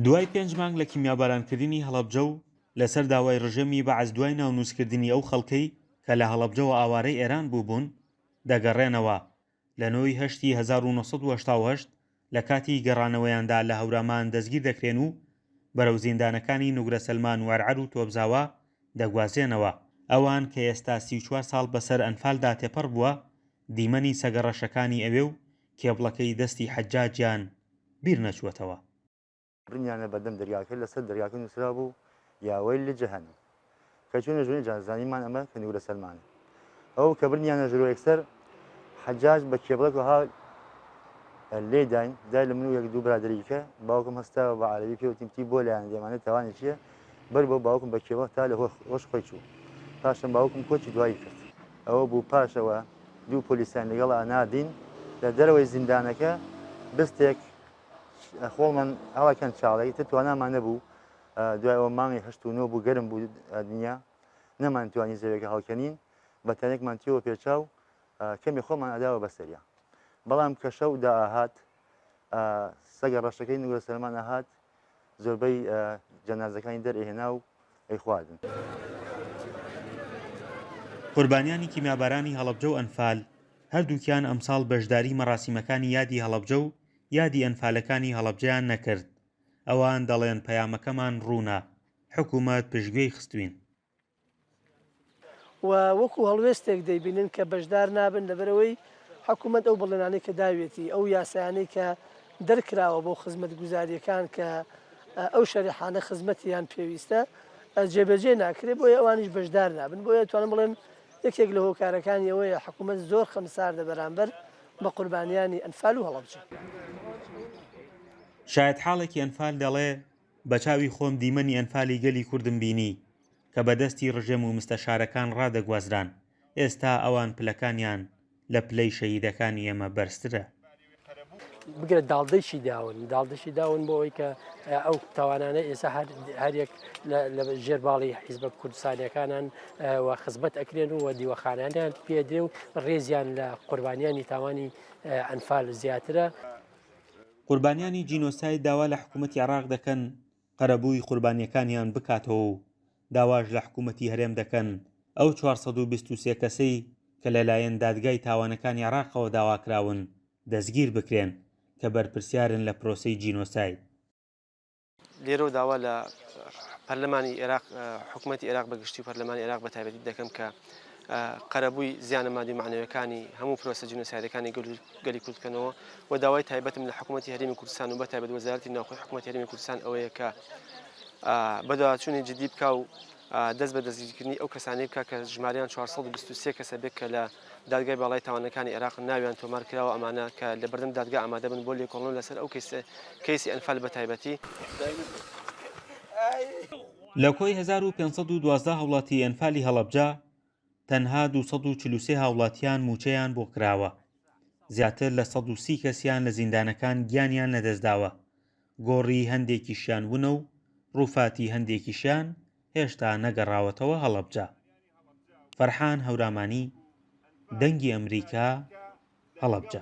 دوای پێنج مانگ لە کیمیابارانکردنی هەڵەبجە و لەسەر داوای ڕژێمی بەعس دوای ناونووسکردنی ئەو خەڵکەی کە لە هەڵەبجەوە ئاوارەی ئێران بووبوون، دەگەڕێنەوە. لە نۆ ی هەشت ی هەزار و نۆ سەد و هەشتا و هەشت لە کاتی گەڕانەوەیاندا لە هەورامان دەستگیر دەکرێن و بەرەو زیندانەکانی نوگرە سەلمان و عەرعەر و تۆپزاوا دەگوازرێنەوە. ئەوان کە ئێستا سی و چوار ساڵ بەسەر ئەنفالدا تێپەڕ بووە، دیمەنی سەگە ڕەشەکانی ئەوێ و کێبڵەکەی دەستی حەجاجیان بیر نەچووەتەوە. بنیانە بەردەم دەریاکە لەسەر دەریاکە نووسرابوو یا ویل لجهنم کە چوونە ژوورێ جا زانیمان ئەمە کەنوورە سەلمانە ئەو کە بردنیانە ژوورۆ یەکسەر حەجاج بە کێبڵەک وەها لێداین دای لە من و یەک دوو برادەری دیکە باوکم هەستاوە بە عەرەبی پێوتین پتی بۆ لایان دێمانێ تاوانێکییە بەر بۆ باوکم بە کێوە تا لە هۆش خۆی چوو پاشم باوکم کۆچی دوایی کرد ئەوە بوو پاشەوە دوو پۆلیسیان لەگەڵ ئەنادین لە دەرەوەی زیندانەکە بستێک خۆڵمان ئاواکەند چاڵی تر توانامان نەبوو دوای ئەوە مانگی هەشت و نۆ بوو گەرم بوو دنیا نەمان توانی زەوێکە هەڵکەنین بە تەنێکمان تیەوە پێچاو کەمی خۆمان ئەداوە بەسەریا بەڵام کە شەو داهات سەگە ڕەشەکەی نوگە سەرمانە هاات زۆربەی جەنازەکانی دەرئەهێنا و ئەیخواردن. قوربانیانی کیمیابارانی هەڵەبجە و ئەنفال، هەردووکیان ئەمساڵ بەشداری مەراسیمەکانی یادی هەڵەبجە و یادی ئەنفالەکانی هەڵەبجەیان نەکرد، ئەوان دەڵێن پەیامەکەمان ڕوونە، حکومەت پشتگوێی خستوین. و وەکو هەڵوێستێک دەیبینن کە بەشدار نابن لەبەرئەوەی حکومەت ئەو بەڵێنانەی کە داویەتی ئەو یاسایانەی کە دەرکراوە بۆ خزمەتگوزاریەکان کە ئەو شەریحانە خزمەتیان پێویستە جێبەجێ ناکرێت بۆیە ئەوانیش بەشدار نابن بۆیە توانم بڵێم یەکێک لە هۆکارەکانی ئەوەیە حکوومەت زۆر خەمساردە بەرامبەر بە قوربانیانی ئەنفال و هەڵەبجە. شایەتحاڵێکی ئەنفال دەڵێ، بە چاوی خۆم دیمەنی ئەنفالی گەلی کوردم بینی کە بە دەستی ڕژێم و مستەشارەکان ڕادەگوازران، ئێستا ئەوان پلەکانیان لە پلەی شەهیدەکانی ئێمە بەرزترە. بگرە داڵدەیشی داون، داڵدەشی داون بۆ ئەوەی کە ئەو تاوانانە ئێستا هەریەک لە ژێر باڵی حیزبە کوردستانیەکانان و خزمەت ئەکرێن و دیوەخانیانیان پێدرێ و ڕێزیان لە قوربانیانی تاوانی ئەنفال زیاترە. قوربانیانی جینۆساید داوا لە حکوومەتی عێراق دەکەن قەرەبووی قوربانییەکانیان بکاتەوە و داواش لە حکوومەتی هەرێم دەکەن ئەو چوار سەد و بیست و سێ کەسەی کە لەلایەن دادگای تاوانەکانی عێراقەوە داواکراون دەستگیر بکرێن کە بەرپرسیارن لە پرۆسەی جینۆساید. لێرەوە داوا لە پەرلەمانی عێراق حکوومەتتی عێراق بەگشتی و پەرلەمانی عێراق بە تایبەتی دەکەم کە قەرەبووی زیانە مادی معنەوەکانی هەموو پرۆسە جنوسایدەکانی گەلی کوردکەنەوە و داوای تایبەتم لە حکوومەتتی هەرمی کوردستان و بە تایبەت وەزارتی ناوخۆی حکوومەتتی هەرمی کوردستان ئەوەیە کە بەداچوونی جدی بکە و دەست بە دەستگیرکردنی ئەو کەسانی بکە کە ژماریان 423 کەسە بێت کە لە دادگای باڵای تاوانەکانی عێراق ناویان تۆمار کراوە ئەمانە کە لە بەردەم دادگا ئامادەبن بۆ لێکۆڵنەوە لەسەر ئەو کەیسە کەیسی ئەنفال بە تایبەتی. لە کۆی هەزار و پێنج سەد و دوازدە هاوڵاتی ئەنفالی هەڵەبجە تەنها دوو سەد و چل و سێ هاوڵاتیان مووچەیان بۆ کراوە، زیاتر لە سەد و سی کەسیان لە زیندانەکان گیانیان لەدەستداوە، گۆڕی هەندێکیشیان ونە و ڕووفاتی هەندێکیشیان هێشتا نەگەڕاوەتەوە هەڵەبجە. فەرحان هەورامانی، دەنگی ئەمریکا، هەڵەبجە.